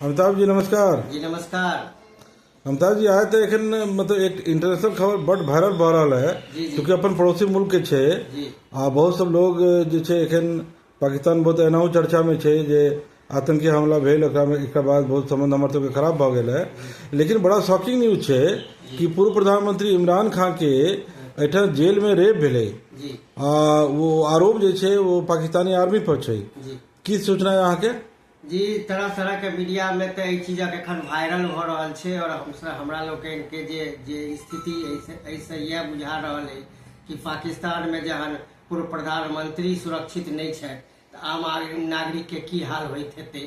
अमिताभ जी नमस्कार जी नमस्कार अमिताभ जी आए थे एखन मतलब एक इंटरनेशनल खबर बड वायरल भऽ रहल है जी, जी। क्योंकि अपन पड़ोसी मुल्क के छै जी आ बहुत सब लोग जे छै एखन पाकिस्तान बहुत एनाहु चर्चा में छै जे आतंकी हमला भेल ओकरा में एकरा बाद बहुत संबंध हमर सबके खराब भऽ गेल है लेकिन बड़ा शॉकिंग न्यूज छै कि पूर्व प्रधानमंत्री इमरान खान के एहिठाम जेल में रेप भेलै जी आ वो आरोप जे छै वो पाकिस्तानी आर्मी पर छै जी की सूचना है अहाँके जी तरह तरह के मीडिया में तो एहि चीजक एखन वायरल भऽ रहल छै आओर हमसब हमरा लोकनि के जे जे स्थिति अछि एहिसँ इएह बुझा रहल अछि कि पाकिस्तान में जहन पूर्व प्रधानमंत्री सुरक्षित नहि छथि तऽ आम आदमी नागरिक के की हाल होइत हेतै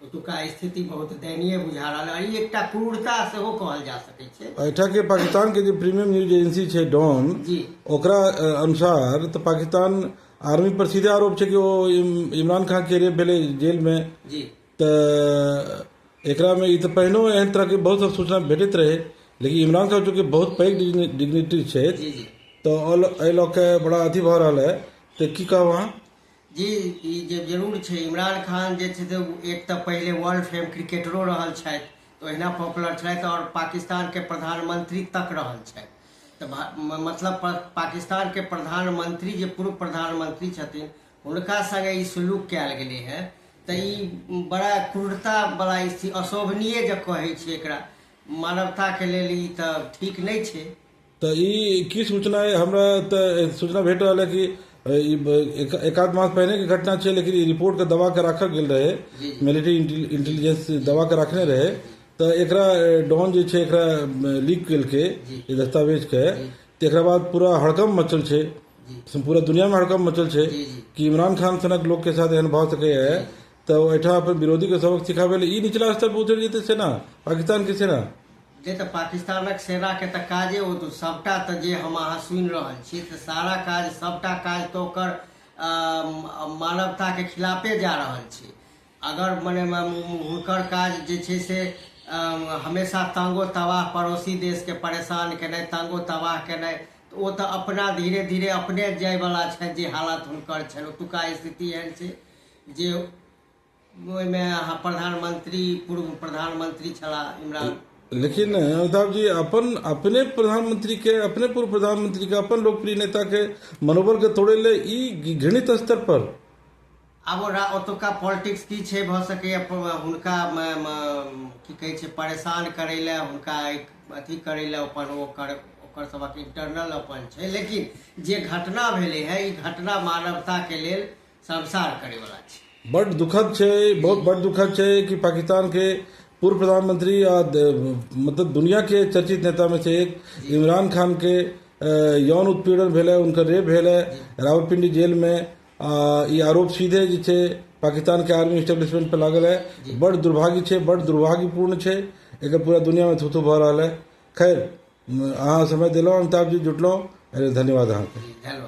ओतुका स्थिति बहुत दयनीय बुझा रहल अछि। ई एकटा क्रूरता सेहो कहल जा सकै छै एहिठाम के पाकिस्तान के जे प्रीमियम न्यूज एजेंसी छै डॉन जी ओकरा अ, अनुसार तऽ पाकिस्तान आर्मी पर सीधे आरोप छै कि ओ इमरान खान के रेप भेलै जेल में तऽ एकरा में ई तऽ पहिनो एहन तरह के बहुत सारा सूचना भेटैत रहै लेकिन इमरान खान चूंकि बहुत पैघ डिग्निटी छै तऽ एहि लऽ के बड़ा अथी भऽ रहल है तऽ की कहब अहाँ जी ई जे जरूर छै इमरान खान जे छै से एक तऽ पहिले वर्ल्ड फेम क्रिकेटरो रहल छथि तऽ ओहिना पॉपुलर छथि आओर पाकिस्तानके प्रधानमंत्री तक रहल छथि तऽ भा- म- मतलब प- पाकिस्तान के प्रधानमंत्री जे पूर्व प्रधानमंत्री छथिन हुनका संगे ई सुलूक कयल गेलै है तऽ ई बड़ा क्रूरता वाला स्थिति अशोभनीय जे कहै छै एकरा मानवता के लेल ई तऽ ठीक नहि छै तऽ ई की सूचना अइ? हमरा तऽ सूचना भेट रहल है कि अ, ई ब- एक- एकाध मास पहिने के घटना छै लेकिन ई रिपोर्ट के दबा के राखल गेल रहे जी, जी। मिलिट्री इंटेलिजेंस दबा के रखने रहे तऽ एकरा डॉन जे छै एकरा लीक केलकै ई दस्तावेजके तऽ एकरा बाद पूरा हड़कम्प मचल छै पूरा दुनियामे हड़कम्प मचल छै कि इमरान खान सनक लोकके साथ एहन भऽ सकैए तऽ ओहिठाम अपन विरोधीके सबक सिखाबै लेल ई निचला स्तर पर उतरि जेतै सेना पाकिस्तानके सेना जे तऽ पाकिस्तानक सेनाके तऽ काजे ओ तऽ सभटा तऽ जे हम अहाँ सुनि रहल छी तऽ सारा काज सभटा काज तऽ ओकर अ, म- मानवताके खिलाफे जा रहल छै अगर मने हुनकर काज जे छै से हमेशा तांगो तबाह पड़ोसी देशके परेशान केनाइ तांगो तबाह केनाइ तऽ ओ तऽ अपना धीरे धीरे अपने जायवला छथि जे हालत हुनकर छनि ओतुका स्थिति एहन छै जे ओहिमे अहाँ प्रधानमंत्री पूर्व प्रधानमंत्री छलाह इमरान लेकिन अमिताभ जी अपन अपने प्रधानमंत्री के अपने पूर्व प्रधानमंत्री के अपन लोकप्रिय नेता के मनोबल के तोड़े ले ई घृणित स्तर पर आब ओतुका पॉलिटिक्स की छै भऽ सकैए हुनका की कहै छै परेशान करै लए हुनका अथी करै लए अपन ओ कर ओकर सभक इंटरनल अपन छै लेकिन जे घटना भेलै है ई घटना मानवता के लेल संसार करे वाला छै बड़ दुखद छै बहुत बड़ दुखद छै कि पाकिस्तान के पूर्व प्रधानमंत्री मतलब दुनिया के चर्चित नेता में से एक इमरान खान के यौन उत्पीड़न भेल है उनकर रेप भेल है रावलपिंडी जेल में ई आरोप सीधे जे छै पाकिस्तानके आर्मी इस्टेब्लिशमेंट पर लागल है बड़ दुर्भाग्य छै बड़ दुर्भाग्यपूर्ण छै एकर पूरा दुनियामे थूथू भऽ रहल है खैर अहाँ समय देलहुँ अमिताभ जी जुटलहुँ एहि लेल धन्यवाद अहाँके